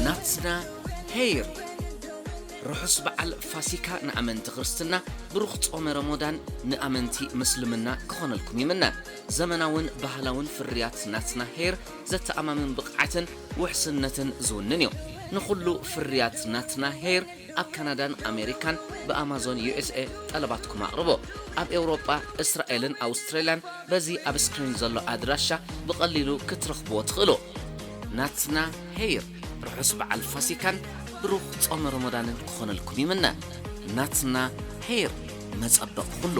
ናትና ሄይር ርሑስ በዓል ፋሲካ ንኣመንቲ ክርስትና ብሩኽ ጾመ ረሞዳን ንኣመንቲ ምስልምና ክኾነልኩም ይምነ ዘመናውን ባህላውን ፍርያት ናትና ሄር ዘተኣማምን ብቕዓትን ውሕስነትን ዝውንን እዩ ንኹሉ ፍርያት ናትና ሄር ኣብ ካናዳን ኣሜሪካን ብኣማዞን USA ጠለባትኩም ኣቕርቡ። ኣብ ኤውሮጳ፣ እስራኤልን ኣውስትራልያን በዚ ኣብ ስክሪን ዘሎ ኣድራሻ ብቐሊሉ ክትረኽብዎ ትኽእሉ። ናትና ሄይር ርሑስ በዓል ፋሲካን ብሩኽ ጾመ ሮሞዳንን ክኾነልኩም ይምነ። ናትና ሄይር መጸበቒ ኩሉ።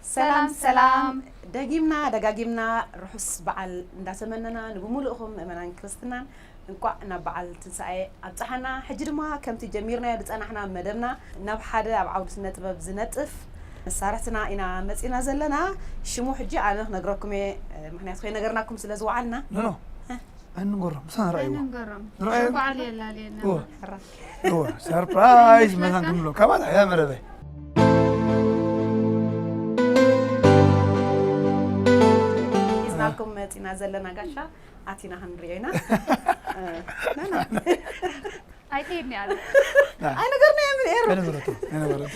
ሰላም ሰላም ደጊምና ደጋጊምና ርሑስ በዓል እንዳተመነና ንብምሉእኹም ምእመናን ክርስትናን እንቋዕ ናብ በዓል ትንሳኤ ኣብጽሓና። ሕጂ ድማ ከምቲ ጀሚርናዮ ዝጸናሕና መደብና ናብ ሓደ ኣብ ዓውዲ ስነ ጥበብ ዝነጥፍ መሳርሕትና ኢና መጺና ዘለና። ሽሙ ሕጂ ኣነ ክነግረኩም እየ ምክንያቱ ከይነገርናኩም ስለ ዝወዓልና። ኣይንንገሮም ምሳና ንርኣይዎ ኣይንንገሮም ንርኣዮም በዓል የላልየና እወ ሕራይ እወ ሰርፕራይዝ መታን ክንብሎ ካባና እያ መረበይ ሒዝናልኩም መፂና ዘለና ጋሻ ኣቲና ክንሪኦ ኢና ኣይትሄድኒ ኣለ ኣይነገርና እየ ምን ኤሩ ከነገረቶ ከነገረቶ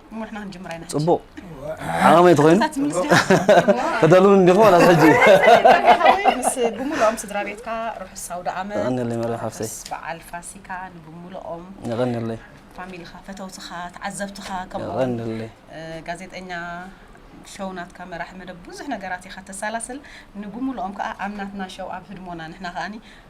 እሞ ንሕና ክንጅምር ኢና ፅቡቕ ዓቐመይ ተኮይኑ እዛ ትምልስ ዲኻ? ተደልውን እንዲኹ ዋላ ሕጂ ሓወይ ምስ ብምልኦም ስድራ ቤትካ ርሑስ ኣውደ ዓመት የቐንየለይ መርያ ሓፍተይ ርሑስ በዓል ፋሲካ ንብምልኦም የቐንየለይ ፋሚሊኻ ፈተውትኻ ተዓዘብትኻ ከምኡ እውን የቐንየለይ እ፣ ጋዜጠኛ ሸው ናትካ መራሒ መደብ ብዙሕ ነገራት ኢኻ ተሰላስል ንብምልኦም ከዓ ኣብ ናትና ሸው ኣብ ህድሞና ንሕና ከዓኒ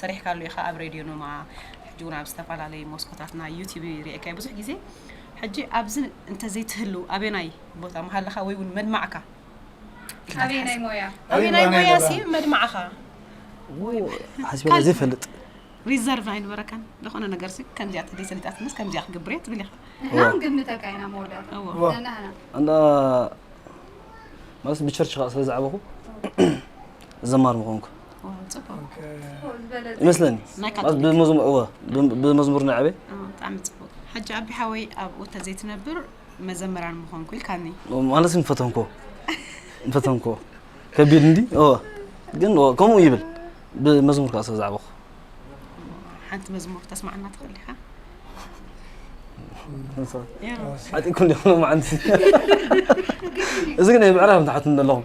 ሰሪሕካሉ ኢኻ ኣብ ሬድዮ ኖማ ሕጂ እውን ኣብ ዝተፈላለዩ ሞስኮታትና ዩቲብ ሪኤካዮ ብዙሕ ግዜ ሕጂ ኣብዚ እንተዘይትህልው ኣበናይ ቦታ ምሃለኻ ወይ እውን መድማዕካ ኣበይ ናይ ሞያ ኣበይ ናይ ሞያ ሲ መድማዕኻ ሓስበላ ዘይፈልጥ ሪዘርቭ ኣይንበረካን ዝኾነ ነገር ሲ ከምዚኣ ተደይ ሰሊጣትንስ ከምዚኣ ክገብር እየ ትብል ኢኻ ናም ግምተካ ኢና መወዳእታ እንዳ ማለት ብቸርች ከዓ ስለ ዝዓበኹ ዘማር ምኾንኩ ይመስለኒ ብመዝሙር እወ ብመዝሙር ናይ ኣበይ ብጣዕሚ ፅቡቅ ሕጂ ኣቢ ሓወይ ኣብኡ ተዘይትነብር መዘመራን ምኾንኩ ኢልካኒ ማለት ንፈተንኮ ንፈተንኮ ከቢድ እንዲ እወ ግን ከምኡ ይብል ብመዝሙር ከዓ ስለ ዝዓበኹ ሓንቲ መዝሙር ተስማዕና ትኽእል ኢኻ ዓጢኩም ዲኹም ሎማዓንቲ እዚ ግን ምዕራብ ንትሓትኒ ኣለኹም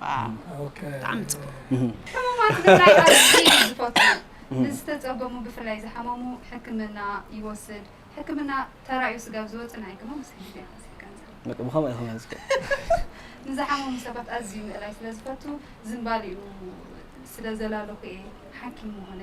ብጣዕሚ ፅቡቅ ሕሙማት ምርዳእ ኣዝየ እየ ዝፈቱ ንዝተፀገሙ ብፍላይ ዝሓመሙ ሕክምና ይወስድ ሕክምና ተራእዩ ስጋብ ዝወፅእ ናይ ግሞ መሰግድ እየ ሓዝየ ገንዘብ ብከምኡ ኢኹም ዝከ ንዝሓመሙ ሰባት ኣዝዩ ምእላይ ስለ ዝፈቱ ዝምባሊኡ ስለ ዘላለኹ እየ ሓኪም ምኾነ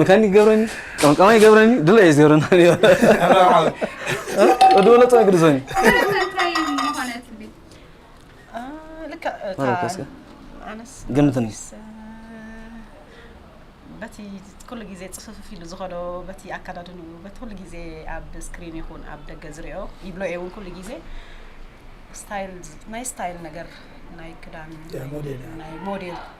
መካኒክ ገብረኒ ቀምቃማይ ገብረኒ ድለ እዩ ዝገብረና ነይሩ ወዲ ወለጦ ግድዞኒ ገምትኒ በቲ ኩሉ ግዜ ፅፍፍፍ ኢሉ ዝኸዶ በቲ ኣካዳድንኡ በቲ ኩሉ ግዜ ኣብ ስክሪን ይኹን ኣብ ደገ ዝሪኦ ይብሎ እየ እውን ኩሉ ግዜ ስታይል ናይ ስታይል ነገር ናይ ክዳን ናይ ሞዴል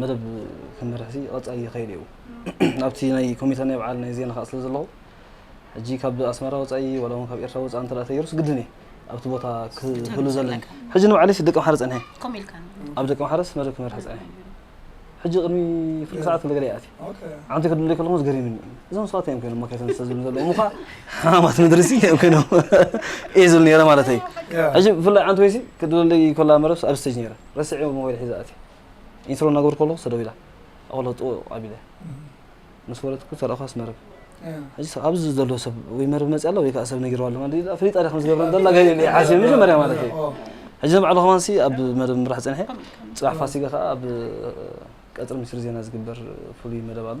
መደብ ክመርሕሲ ቐፃኢ ይኸይድ እዩ ኣብቲ ናይ ኮሚተ ናይ በዓል ናይ ዜና ከዓ ስለ ዘለኹ ሕጂ ካብ ኣስመራ ወፃኢ ዋላ እውን ካብ ኤርትራ ወፃኢ እንተ ተገይሩስ ግድን እየ ኣብቲ ቦታ ክህሉ ዘለኒ ሕጂ ንባዕለይሲ ደቂ ምሓረ ፀኒሐ ኣብ ደቂ ምሓረስ መደብ ክመርሒ ፀኒሐ ሕጂ ቅድሚ ፍርቂ ሰዓት ክለገለ ይኣት ዓንቲ ክድለ ከለኹ ዝገሪምኒ እዞም ሰባት እዮም ኮይኖም መካይተን ዝተ ዝብሉ ዘለዉ ምኳ ሓማት ምድሪሲ እዮም ኮይኖም እየ ዝብል ነረ ማለት እዩ ሕጂ ብፍላይ ዓንቲ ወይሲ ክድለለይ ኮላ መረብስ ኣብ ስተጅ ነረ ረስዐ ሞባይል ሒዘ ኣት ኢንትሮ እናገበርኩ ከለኹ ሰደው ኢላ ኣቕለጡ ኣቢለ ምስ ወረድኩ ተረእኳስ መረብ ሕጂ ኣብዚ ዘሎ ሰብ ወይ መረብ መፅእ ኣላ ወይ ከዓ ሰብ ነጊርዋ ኣሎ ማለት ፍሊጣ ዲያ ከም ዝገብረ ዘላ ሓሲብ መጀመርያ ማለት እዩ ሕጂ ንባዕሉ ከማንሲ ኣብ መደብ ምራሕ ፀንሐ ፅባሕ ፋሲጋ ከዓ ኣብ ቀፅሪ ሚኒስትሪ ዜና ዝግበር ፍሉይ መደብ ኣሎ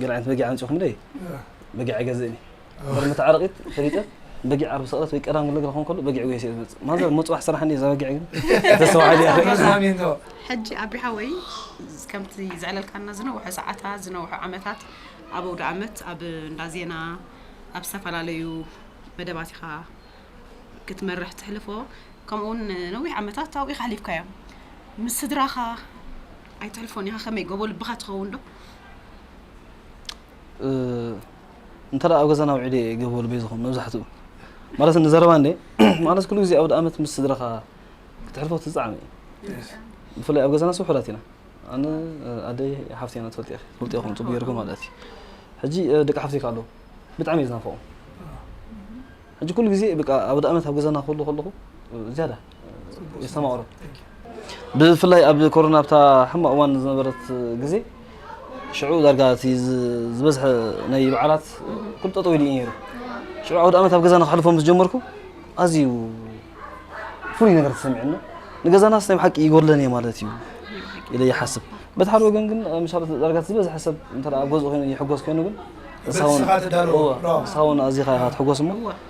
ገለ ዓይነት በጊዕ ኣምፂኹም ደይ በጊዕ ኣይገዝእን እዩ በር መተዓረቂት ፈሊጠ በጊዕ ዓርቢ ሰቕረት ወይ ቀዳም ግለግረ ክኾን ከሎ በጊዕ ጉየስ እየ ዝመፅእ ማዘር መፅዋሕ ስራሕ እንዲ እዛ በጊዕ ግን ተሰዋዕድ እያ ሕጂ ኣቢ ሓወይ ከምቲ ዘዕለልካና ዝነውሐ ሰዓታ ዝነውሐ ዓመታት ኣብ ኣውደ ዓመት ኣብ እንዳ ዜና ኣብ ዝተፈላለዩ መደባት ኢኻ ክትመርሕ ትሕልፎ ከምኡውን ነዊሕ ዓመታት ኣብኡ ኢኻ ሓሊፍካዮም ምስ ስድራኻ ኣይትሕልፎን ኢኻ ከመይ ጎቦ ልብኻ ትኸውን ዶ እንተ ኣብ ገዛና ውዒለ እየ ገበሉ በይዝኹም መብዛሕትኡ ማለት ንዘረባ እንደ ማለት ኩሉ ግዜ ኣውደ ኣመት ምስ ስድራኻ ክትሕልፎ ትዝዓመ እዩ ብፍላይ ኣብ ገዛና ስውሑላት ኢና ኣነ ኣደይ ሓፍቲ ኢና ትፈልጥ ኢኺ ትፈልጥ ኢኹም ፅቡቅ ጌርኩም ማለት እዩ ሕጂ ደቂ ሓፍቲካ ኣለዉ ብጣዕሚ እዩ ዝናፈቑ ሕጂ ኩሉ ግዜ በቃ ኣውደ ኣመት ኣብ ገዛና ክህሉ ከለኹ ዝያዳ የስተማቕሮ ብፍላይ ኣብ ኮሮና ኣብታ ሕማቕ እዋን ዝነበረት ግዜ ሽዑ ዳርጋ እቲ ዝበዝሐ ናይ በዓላት ኩሉ ጠጠው ኢሉ እዩ ነይሩ ሽዑ ዓውደ ዓመት ኣብ ገዛና ክሕልፎ ምስ ጀመርኩ ኣዝዩ ፍሉይ ነገር ተሰሚዑና ንገዛናስ ናይ ብሓቂ ይጎድለን እየ ማለት እዩ ኢለ ይሓስብ በቲ ሓደ ወገን ግን ምሻሉ ዳርጋ ዝበዝሐ ሰብ እንተ ኣብ ገዝኡ ኮይኑ ይሕጎስ ኮይኑ ግን ንስኻ እውን ኣዚኻ ኢኻ ትሕጎስ እሞ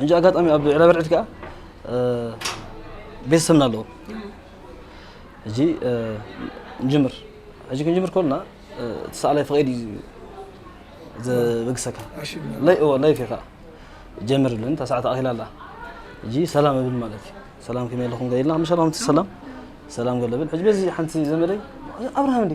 ሕጂ ኣጋጣሚ ኣብ ዕረበርዕድ ከዓ ቤተሰብና ኣለዎ ሕጂ ንጅምር ሕጂ ክንጅምር ከሎና እቲ ሰኣላይ ፈቒድ እዩ ዘበግሰካ ለይ እዎ ለይፍ እዩ ከዓ ጀምር ብለኒ እታ ሰዓት ኣኺላ ኣላ ሕጂ ሰላም እብል ማለት እዩ ሰላም ከመይ ኣለኹም ገ ኢልና ምሻ ሰላም ሰላም ገለብል ሕጂ በዚ ሓንቲ ዘመደይ ኣብርሃም እንዲ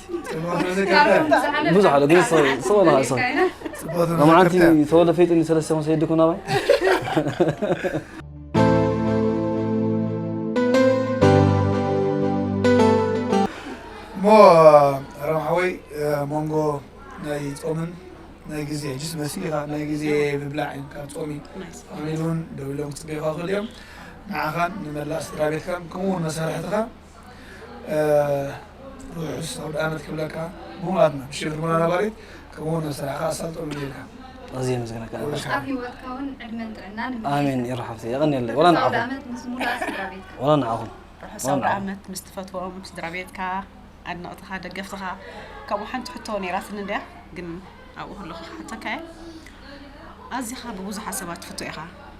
ብዙሕ ኣሎ ግን ሰው ለካ ሰው መዓንቲ ተወለ ፈይጥኒ ሰለስተ ኮን ሰይድኩም ናባይ እሞ ረምሓወይ መንጎ ናይ ፆምን ናይ ግዜ ሕጅስ መሲል ኢኻ ናይ ግዜ ምብላዕ እዩ ካብ ፆሚ ኣሚሉን ደብሎም ክፅበይኻ ክእል እዮም ንዓኻን ንመላእ ስድራ ቤትካን ከምኡውን መሳርሕትኻ ርሑስ ኣውድኣመት ክብለካ ጉማትና ብሽም ህድሞና ነባሪት ከምኡ ውን ንስራሕካ ኣሳልጦ እምነየልካ። ኣዝየ የመስግነካ ነበር ኣብ ሂወትካ ውን ዕድመን ጥዕናን እምነየልካ። ኣሜን የረ ሓፍተይ የቀንየለይ ወላ ርሑስ ንዓኹም ኣውድኣመት ምስ ሙሉኣ ስድራቤትካ። ወላ ንዓኹም ርሑስ ወላ ንዓኹም። ኣውድኣመት ምስ ትፈትዎም ስድራቤትካ ኣድነቅትኻ ደገፍትኻ ከምኡ ሓንቲ ሕቶ ኔራትኒ እንድያ ግን ኣብኡ ከለኹ ክሓተካ እየ ኣዚኻ ብቡዙሓት ሰባት ትፍቶ ኢኻ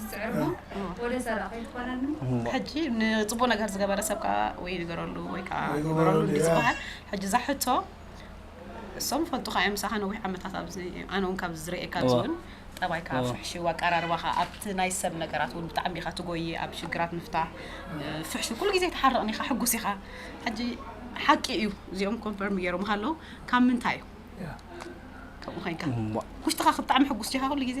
ዝጽዕርሞ ወደ ሰራቂ ይኮነኒ ሕጂ ንጽቡቅ ነገር ዝገበረ ሰብ ከዓ ወይ ንገረሉ ወይ ከዓ ግበረሉ ዝበሃል ሕጂ እዛ ሕቶ እሶም ይፈልጡካ እዮም ምሳካ ነዊሕ ዓመታት ኣብዚ ኣነ እውን ካብዚ ዝርእየካ ኣብዚ እውን ጠባይካ ፍሕሽው ኣቀራርባካ ኣብቲ ናይ ሰብ ነገራት እውን ብጣዕሚ ኢካ ትጎይ ኣብ ሽግራት ምፍታሕ ፍሕሹ ኩሉ ግዜ ተሓርቕን ኢካ ሕጉስ ኢካ ሕጂ ሓቂ እዩ እዚኦም ኮንፈርም ገይሮም ሃለው ካብ ምንታይ እዩ ከምኡ ኮይንካ ውሽጥካ ብጣዕሚ ሕጉስ ዲካ ኩሉ ግዜ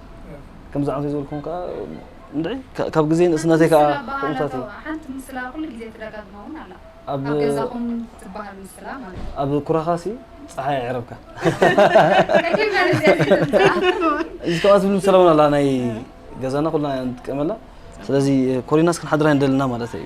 ከምዚ ኣንፈይ ዝበልኩም ከዓ እንድዒ ካብ ግዜ ንእስነተይ ከዓ ከምኡታት እዩ ሓንቲ ምስላ ኩሉ ግዜ ትደጋግማ እውን ኣላ ኣብ ገዛኹም ትበሃል ምስላ ማለት ኣብ ኩራኻ ሲ ፀሓይ ኣዕረብካ እዚ ከምኣ ዝብል ምስላ እውን ኣላ ናይ ገዛና ኩልና ንጥቀመላ ስለዚ ኮሪናስ ክንሓድር ኣይንደልና ማለት እዩ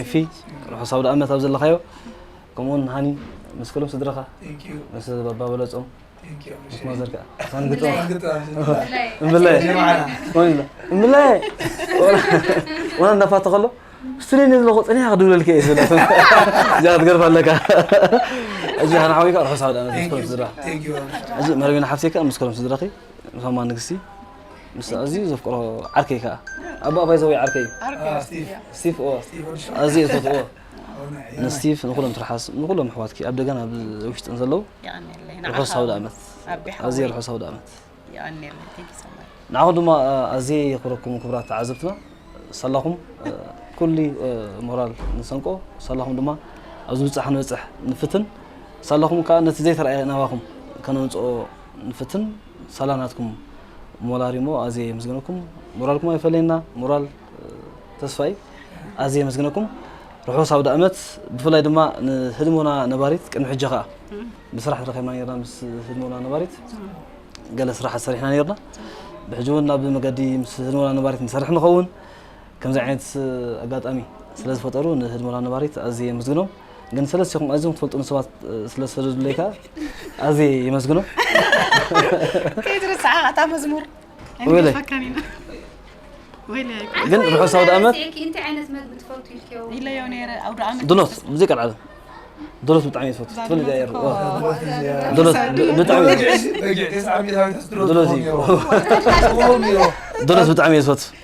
ኤፊ ርሑስ ኣውደኣመት ኣብ ዘለኻዮ ከምኡውን ሃኒ ምስ ኩሎም ስድራኻ ምስ ባባ በለጾም ምስ ማዘር ከዓ ሳን ግጥም እምብላይ እምብላይ ዋላ እንዳፋተ ከሎ ስትሪን ዘለኹ ፅኒሓ ክድብለልከ እየ ዝብላ እዚኣ ክትገርፍ ኣለካ እዚ ሓን ሓዊካ ርሑስ ኣውደኣመት ምስ ኩሎም ስድራ እዚ መረቢና ሓፍተይ ከዓ ምስ ኩሎም ስድራኺ ንኸማ ንግስቲ ምስ ኣዝዩ ዘፍቅሮ ዓርከይ ከዓ ኣቦ ኣባይ ዘወይ ዓርከይ ስቲፍ ኣዝየ ዝፈትዎ ንስቲፍ ንኩሎም ትርሓስ ንኩሎም ኣሕዋትኪ ኣብ ደገን ኣብ ውሽጥን ዘለዉ ርሑስ ሃውደ ኣመት ኣዝየ ርሑስ ሃውደ ኣመት ንዓኹም ድማ ኣዝየ የኽብረኩም ክብራት ተዓዘብትና ሰላኹም ኩሉ ሞራል ንሰንቆ ሰላኹም ድማ ኣብ ዝብፃሕ ንበፅሕ ንፍትን ሳላኹም ከዓ ነቲ ዘይተረኣየ ናባኹም ከነምፅኦ ንፍትን ሳላ ናትኩም ሞላሪሞ ኣዝየ የምስግነኩም ሞራልኩም ኣይፈለየና ሞራል ተስፋይ ኣዝየ የመስግነኩም ርሑስ ኣውዳእመት ብፍላይ ድማ ንህድሞና ነባሪት ቅድሚ ሕጂ ከዓ ብስራሕ ተረኺብና ነርና ምስ ህድሞና ነባሪት ገለ ስራሓት ሰሪሕና ነርና ብሕጂ እውን ናብ መገዲ ምስ ህድሞና ነባሪት ንሰርሕ ንኸውን ከምዚ ዓይነት ኣጋጣሚ ስለ ዝፈጠሩ ንህድሞና ነባሪት ኣዝየ የመስግኖም ግን ሰለስት ሸኹም ኣዝዮም ትፈልጡኒ ሰባት ስለ ዝሰደዱለይ ከዓ ኣዝየ የመስግኖ ከይትርስዓ ኣታ መዝሙር ወይለይ ግን ርሑስ ኣውደ ኣመት እንታይ ዓይነት መግቢ ትፈቱ ኢልክዮ ኢለዮ ነይረ ኣውደ ኣመት ድሎት ሙዚቃ ዓለም ድሎት ብጣዕሚ እየ ዝፈቱ ትፈልጥ እያ የር ድሎት ብጣዕሚ ድሎት እዩ ድሎት ብጣዕሚ እየ ዝፈቱ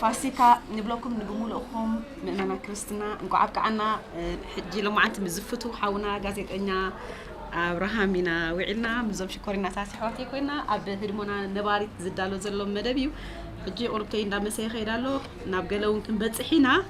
ፋሲካ ንብለኩም ንብሙሉእኩም ምእመና ክርስትና እንቋዕ ኣብቅዓና ሕጂ ሎማዓንቲ ምስ ዝፍትው ሓውና ጋዜጠኛ ኣብርሃም ኢና ውዒልና ምዞም ሽኮሪናታት ኣሕዋተይ ኮይና ኣብ ህድሞና ነባሪት ዝዳሎ ዘሎ መደብ እዩ ሕጂ ቁርብተይ እንዳመሰየ ከይዳ ኣሎ ናብ ገለ እውን ክንበፅሕ ኢና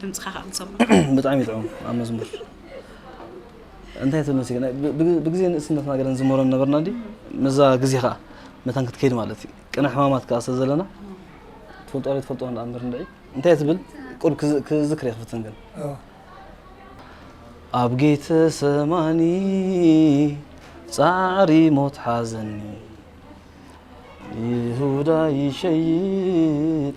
ድምጽኻ ከኣ ክንሰምዖ። ብጣዕሚ ጥዑም ኣብ መዝሙር እንታይ ተመስገን ብግዜ ንእስነትና ገለ ንዝመሮ ነበርና እንዲ ምዛ ግዜ ከኣ መታን ክትከይድ ማለት እዩ ቅነ ሕማማት ከኣ ስለ ዘለና ትፈልጦ ዶ ትፈልጦ እንዳ እምበር እንድዒ እንታይ ትብል ቁርብ ክዝክር ይክፍትን ግን ኣብ ጌተ ሰማኒ ጻዕሪ ሞት ሓዘኒ ይሁዳ ይሸይጥ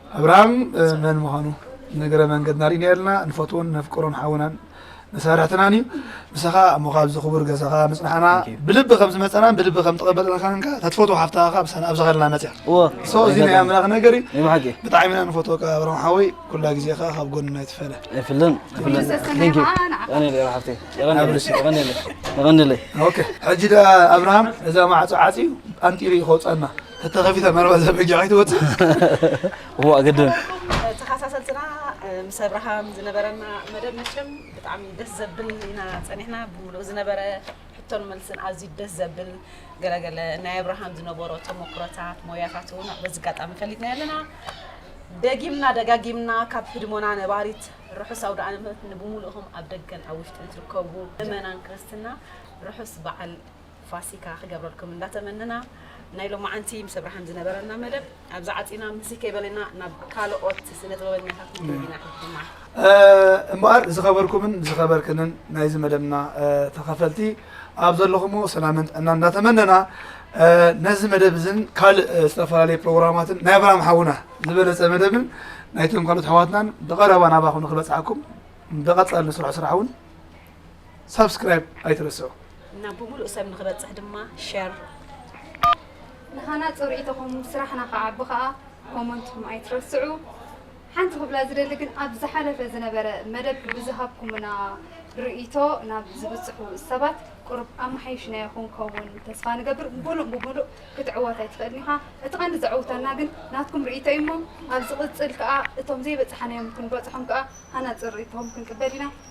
ኣብርሃም መን ምዃኑ ንእግረ መንገድና ርኢናልና ንፈትዎን ነፍቅሮን ሓውናን መሳርሕትናን እዩ። ንሰኻ እሞ ካብዚ ክቡር ገዛኻ ምጽናሕና ብልቢ ከም ዝመጸናን ብልቢ ከም ተቐበልናካን ከኣ ተትፈትዎ ሓፍትኻ ካብ ሳን ኣብ ዝኸልና መጽያ ሶ እዚ ናይ ኣምላኽ ነገር እዩ። ብጣዕሚ ኢና ንፈትወካ ኣብርሃም ሓወይ ኩላ ግዜ ከኣ ካብ ጎንና ይትፈለ ኣይፍልን ሕጂ ደኣ ኣብርሃም እዛ ማዕጾ ዓጽዩ ኣንጢሩ እዩ ከውጸና ተተኸፊተ መርባ ዘበጊዕ ኣይትወፅእ እዋ ግድን ተኸሳሰልትና ምስ ኣብርሃም ዝነበረና መደብ መቸም ብጣዕሚ ደስ ዘብል ኢና ፀኒሕና ብምሉእ ዝነበረ ሕቶን መልስን ኣዝዩ ደስ ዘብል ገለገለ ናይ ኣብርሃም ዝነበሮ ተሞክሮታት ሞያታት እውን በዚ ኣጋጣሚ ፈሊጥና ኣለና ደጊምና ደጋጊምና ካብ ህድሞና ነባሪት ርሑስ ኣውደ ኣመት ንብምሉእኹም ኣብ ደገን ኣብ ውሽጥን ትርከቡ ምእመናን ክርስትና ርሑስ በዓል ፋሲካ ክገብረልኩም እንዳተመነና ናይ ሎማዓንቲ ምስ ኣብራሃም ዝነበረና መደብ ኣብዚ ዓጺና ምስይ ከይበለና ናብ ካሎኦት ስነ ጥበበኛታት ክንከይድ ኢና ሕጂድማ። እምበኣር ዝኸበርኩምን ዝኸበርክንን ናይዚ መደብና ተኸፈልቲ ኣብ ዘለኹሞ ሰላምን ጥዕናን እንዳተመነና ነዚ መደብ እዝን ካልእ ዝተፈላለዩ ፕሮግራማትን ናይ ኣብራሃም ሓውና ዝበለፀ መደብን ናይቶም ካልኦት ኣሕዋትናን ብቐረባ ናባኹም ንክበፅሓኩም ብቐፃሊ ንስርሖ ስራሕ እውን ሳብስክራይብ ኣይትረስዑ። ናብ ብምሉእ ሰብ ንክበጽሕ ድማ ሸር። ንኻናጹ ርኢቶኹም ስራሕና ክዓቢ ከኣ ኮሞንትኩም ኣይትረስዑ። ሓንቲ ክብላ ዝደሊ ግን ኣብ ዝሓለፈ ዝነበረ መደብ ብዝሃብኩምና ርኢቶ ናብ ዝብጽሑ ሰባት ቁሩብ ኣመሓይሽናዮ ክንከውን ተስፋ ንገብር። ምሉእ ብምሉእ ክትዕወት ኣይትኽእልን ኢኻ። እቲ ቀንዲ ዘዕውተና ግን ናትኩም ርኢቶ እዩ እሞ ኣብ ዝቕጽል ከኣ እቶም ዘይበጻሕናዮም ክንበጽሖም ከኣ ሃናጺ ርኢቶኹም ክንቅበል ኢና።